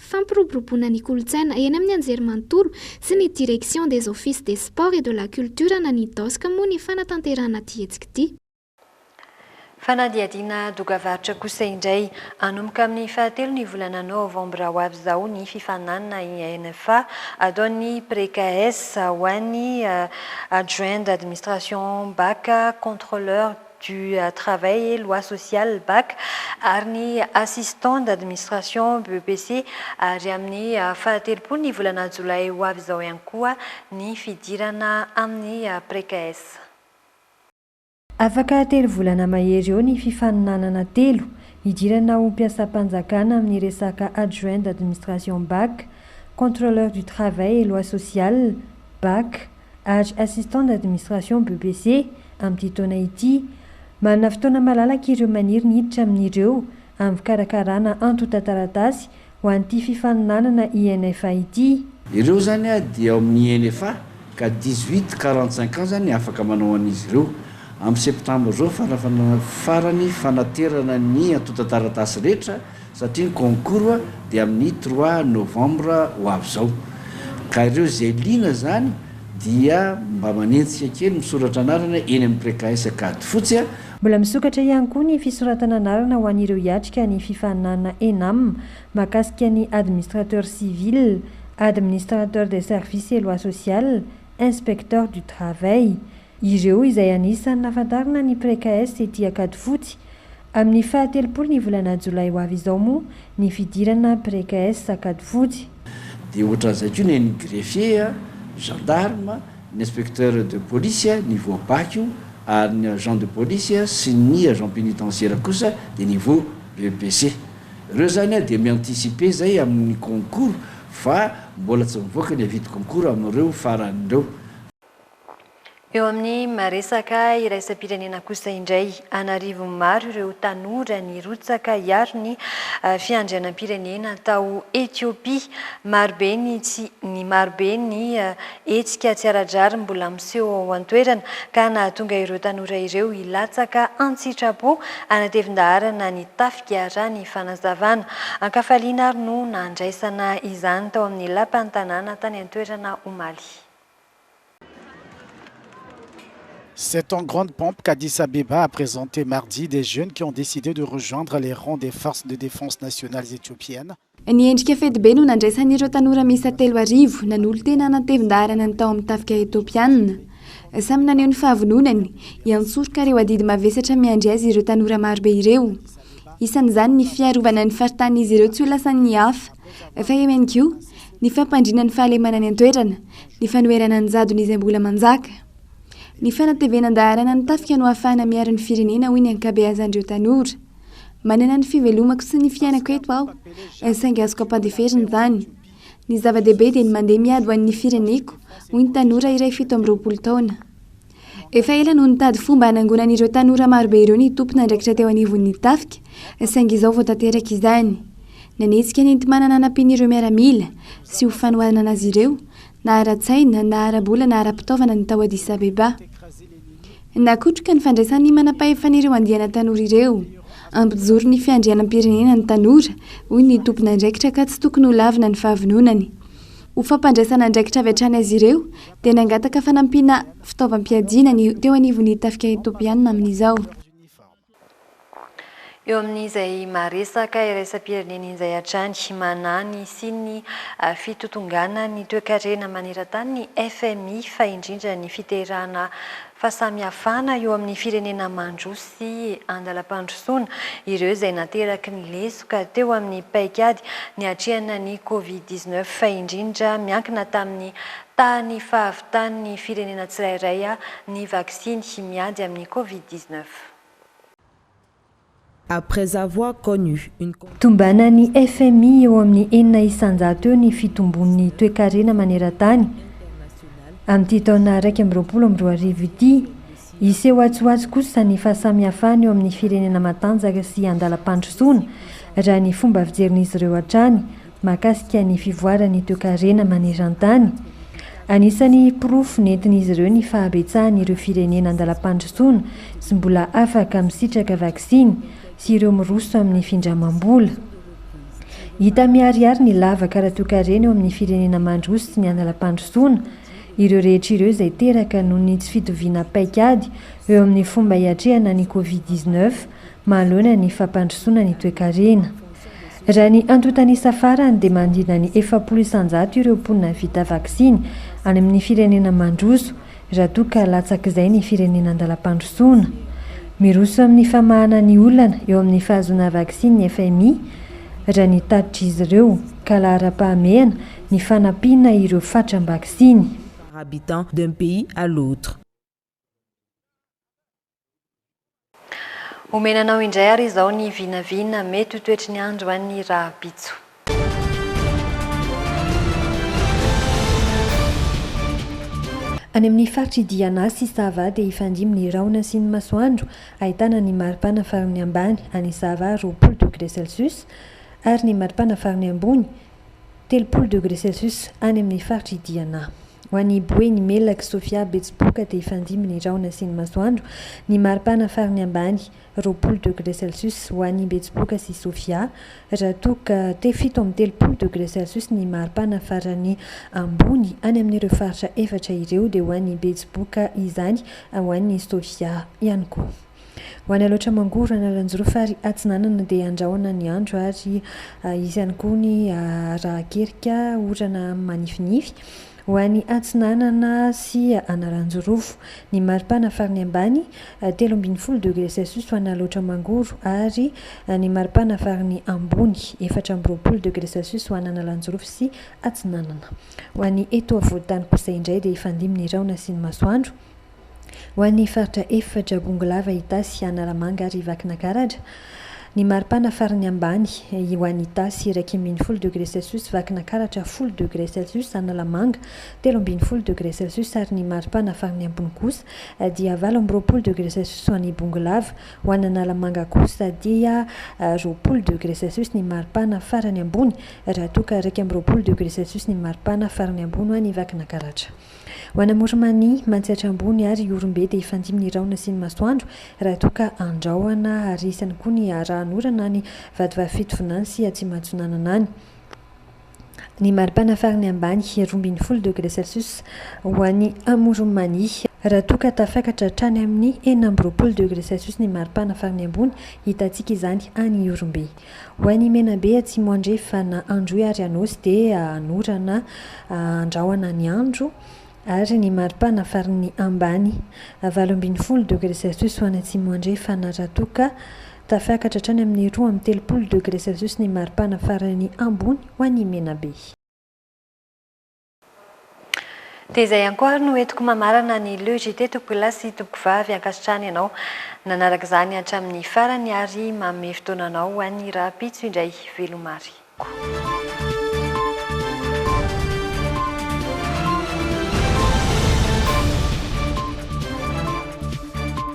Fampiroboroboana ny kolontsaina eny amin'ny anjerimanontolo sy ny Direction des Offices des Sports et de la Culture na ny DOSC moa ny fanatanterahana ity hetsika ity. Fanadihadiana doga-varotra kosa indray. Hanomboka amin'ny fahatelo ny volana novambra ho avy izao ny fifaninanana INFA ataon'ny Precaes ho an'ny Adjoint d'administration bac, contrôleur, du travail et lois sociales, bac, ary ny assistant d'administration, BEPC, ary amin'ny fahatelopolo ny volana jolay ho avy izao ihany koa ny fidirana amin'ny Precaes. Afaka telo volana mahery eo ny fifaninanana telo hidirana ho mpiasam-panjakana amin'ny resaka adjoint d'administration, bac, contrôleur du travail et lois sociales, bac, ary Assistant d'Administration BEC amin'ity taona ity. Manana fotoana malalaka ireo maniry ny hiditra amin'ireo amin'ny fikarakarana antontan-taratasy ho an'ity fifaninanana INFA ity. Ireo izany dia ao amin'ny INFA ka dix-huit quarante-cinq ans izany afaka manao an'izy ireo. Amin'ny septambra izao fanafanana farany fanaterana ny antontan-taratasy rehetra satria ny concours dia amin'ny trois novembre ho avy izao ka ireo izay liana izany dia mba manenjika kely misoratra anarana eny amin'ny precaes ankady fotsy. Mbola misokatra ihany koa ny fisoratana anarana ho an'ireo hiatrika ny fifaninanana ENAM mahakasika ny Administrateur civil, Administrateur des services et lois sociales, Inspecteur du travail. Ireo izay anisan'ny nahafantarana ny Precaes tety Ankadifotsy. Amin'ny faha telopolo ny volana jolay ho avy izao moa ny fidirana Precaes Ankadifotsy. Dia ohatran'izay koa ny an'ny greffier, gendarme, ny inspecteur de police, ny voa bac io, ary ny agent de police sy ny agent pénitentiaire kosa dia niveau EPC. Ireo izany dia mi-anticiper izay amin'ny concours fa mbola tsy mivoaka ny avis de concours amin'ireo farany ireo. Eo amin'ny maha-resaka iraisam-pirenena kosa indray, an'arivony maro ireo tanora nirotsaka hiaro ny fiandrianam-pirenena tao Ethiopia. Marobe ny tsy ny marobe ny hetsika tsy ara-drariny mbola miseho ao an-toerana ka nahatonga ireo tanora ireo hilatsaka an-tsitrapo hanatevin-daharana ny tafika raha ny fanazavana an-kafaliana ary no nandraisana izany tao amin'ny Lapan'ny tanàna tany an-toerana omaly. C'est en grande pompe qu'Addis Abeba a présenté mardi des jeunes qui ont décidé de rejoindre les rangs des Forces de défense nationales éthiopiennes. Ny endrika fetibe no nandraisan'ireo tanora miisa telo arivo nanolo-tena hanatevin-daharana ny tao amin'ny tafika Etopiana. Samy naneho ny fahavononany hiantsoroka ireo adidy mavesatra miandry azy ireo tanora marobe ireo. Isan'izany ny fiarovana ny faritanin'izy ireo tsy ho lasan'ny hafa. Fa eo ihany koa, Ny fampandriana ny fahalemana any an-toerana, ny fanoherana ny jadona izay mbola manjaka, ny fanatevenan-daharana ny tafika no ahafahana miaro ny firenena, hoy ny ankabeazan'ireo tanora. Manana ny fivelomako sy ny fiainako eto aho, saingy azoko ampandeferina izany. Ny zava-dehibe dia ny mandeha miady ho an'ny fireneko, hoy ny tanora iray fito amby roapolo taona. Efa ela no nitady fomba hanangonana ireo tanora marobe ireo ny tompon'andraikitra teo anivon'ny tafika, saingy izao vao tanteraka izany. Nanetsika nenti-manana nampian'ireo miaramila, sy ho fanohanana azy ireo, na ara-tsaina, na ara-bola na ara-pitaovana ny tao Addis Abeba. Nakotroka ny fandraisan'ny manampahefana ireo andiana tanora ireo. Ampijoro ny fiandrianam-pirenena ny tanora, hoy ny tompon'andraikitra ka tsy tokony ho lavina ny fahavononany. Ho fampandraisana andraikitra avy hatrany azy ireo, dia nangataka fanampiana fitaovam-piadiana ny teo anivon'ny tafika Etopiana amin'izao. Eo amin'izay maha-resaka iraisam-pirenena izay hatrany, manahy ny hisian'ny fitotonganan'ny toekarena maneran-tany ny fmi fa indrindra ny fiterahana fahasamihafana eo amin'ny firenena mandroso sy andalam-pandrosoana ireo izay nateraky ny lesoka teo amin'ny paikady niatrehana ny Covid dix neuf fa indrindra miankina tamin'ny tahan'ny fahavitan'ny firenena tsirairay ny vaksiny miady amin'ny Covid dix neuf. Après avoir connu une conjointe. Tombanan'ny fmi eo amin'ny enina isan-jato eo ny fitombon'ny toekarena maneran-tany amin'ity taona iraika amby roapolo amby roa arivo ity. Hiseho atsy-ho-atsy kosa ny fahasamihafana eo amin'ny firenena matanjaka sy andalam-pandrosoana, raha ny fomba fijerin'izy ireo hatrany. mahakasika ny fivoaran'ny toekarena maneran-tany. Anisan'ny porofo nentin'izy ireo ny fahabetsahan'ireo firenena an-dalam-pandrosoana sy mbola afaka misitraka vaksiny sy ireo miroso amin'ny findramam-bola. Hita miharihary ny lavaka ara-toekarena eo amin'ny firenena mandroso sy ny an-dalam-pandrosoana ireo rehetra ireo izay teraka noho ny tsy fitoviana paikady eo amin'ny fomba hiatrehana ny Covid dix-neuf manoloana ny fampandrosoana ny toekarena. Raha ny antontan'isa farany dia manodidina ny efapolo isan-jato ireo mponina vita vaksiny any amin'ny firenena mandroso, raha toa ka latsak'izay ny firenena an-dalam-pandrosoana. Miroso amin'ny famahana ny olana eo amin'ny fahazoana vaksiny ny fmi, raha ny tatitr'izy ireo, ka laharam-pahamehana ny fanampiana ireo fatram-baksiny. par habitant d'un pays à l'autre. Omena anao indray ary izao ny vinavina mety ho toetry ny andro any rahampitso. Any amin'ny faritr'i Diana sy Sava dia hifandimby ny rahona sy ny masoandro, ahitana ny maripana farany ambany any Sava roapolo degré celsius ary ny maripana farany ambony telopolo degre celsius any amin'ny faritra i Diana. Ho an'i Boeny, Melaky, Sofia, Betsiboka dia hifandimby ny rahona sy ny masoandro, ny maripana farany ambany roapolo degre celsius ho an'i Betsiboka sy Sofia, raha toa ka te fito amby telopolo degre celsius ny maripana farany ambony any amin'ireo faritra efatra ireo dia ho an'i Betsiboka izany, ho an'i Sofia ihany koa. Ho any Alaotra-Mangoro, Analanjirofo ary Atsinanana dia handrahona ny andro ary hisy ihany koa ny arahan-kerika orana manifinify. Ho any Atsinanana sy Analanjirofo, ny maripana farany ambany, telo ambin'ny folo degre celsius ho any Alaotra-Mangoro ary ny maripana farany ambony, efatra amby roapolo degre celsius ho any Analanjirofo sy Atsinanana. Ho any eto afovoan-tany kosa indray dia hifandimby ny rahona sy ny masoandro. Ho an'ny faritra efatra, Bongolava, Itasy, Analamanga ary Vakinakaratra, ny maripana farany ambany, ho an'i Itasy, iraika ambin'ny folo degre celsius, Vakinakaratra, folo degre celsius, Analamanga, telo ambin'ny folo degre celsius, ary ny maripana farany ambony kosa dia valo amby roapolo degre celsius ho an'i Bongolava. Ho an'Analamanga kosa dia roapolo degre celsius ny maripana farany ambony, raha toa ka iraika amby roapolo degre celsius ny maripana farany ambony ho an'i Vakinakaratra. Ho ana Morimani, Mantsihatra Ambony ary Ihorombe dia hifandimby ny rahona sy ny masoandro raha toa ka andraohana ary isany koa ny arahan'orana any Vatovavy Fitovinany sy Atsimatsinanana any ny maripana farany ambany roa ambin'ny folo degre celsius ho any Morimani raha toa ka tafakatra hatrany amin'ny enina amby roapolo degre celsius ny maripana farany ambony hitantsika izany any Ihorombe. Ho an'i Menabe atsimo andrefa na Androy ary Anosy dia anorana andrahona ny andro ary ny maripana farin'ny ambany. Valo ambin'ny folo degre Celsius ho any atsimo andrefa na raha toa ka tafiakatra hatrany amin'ny roa amby telopolo degre Celsius ny maripana farany ambony ho an'i Menabe. Dia izay ihany koa ary no entiko mamarana ny Le JT tompoko lahy sy tompoko vavy ankasitrahana ianao nanaraka izany hatramin'ny farany ary manome fotoana anao ho an'ny rahampitso indray veloma ary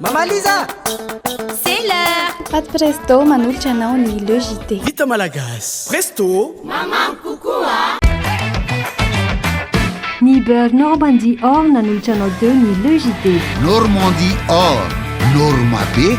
Mama Liza C'est l'heure Pat Presto manolotra anao ny Le JT. Vita malagasy. Presto Mamam kokoa Ny beurre Normandie Or nanolotra anao teo ny Le JT. Normandie Or, norma be.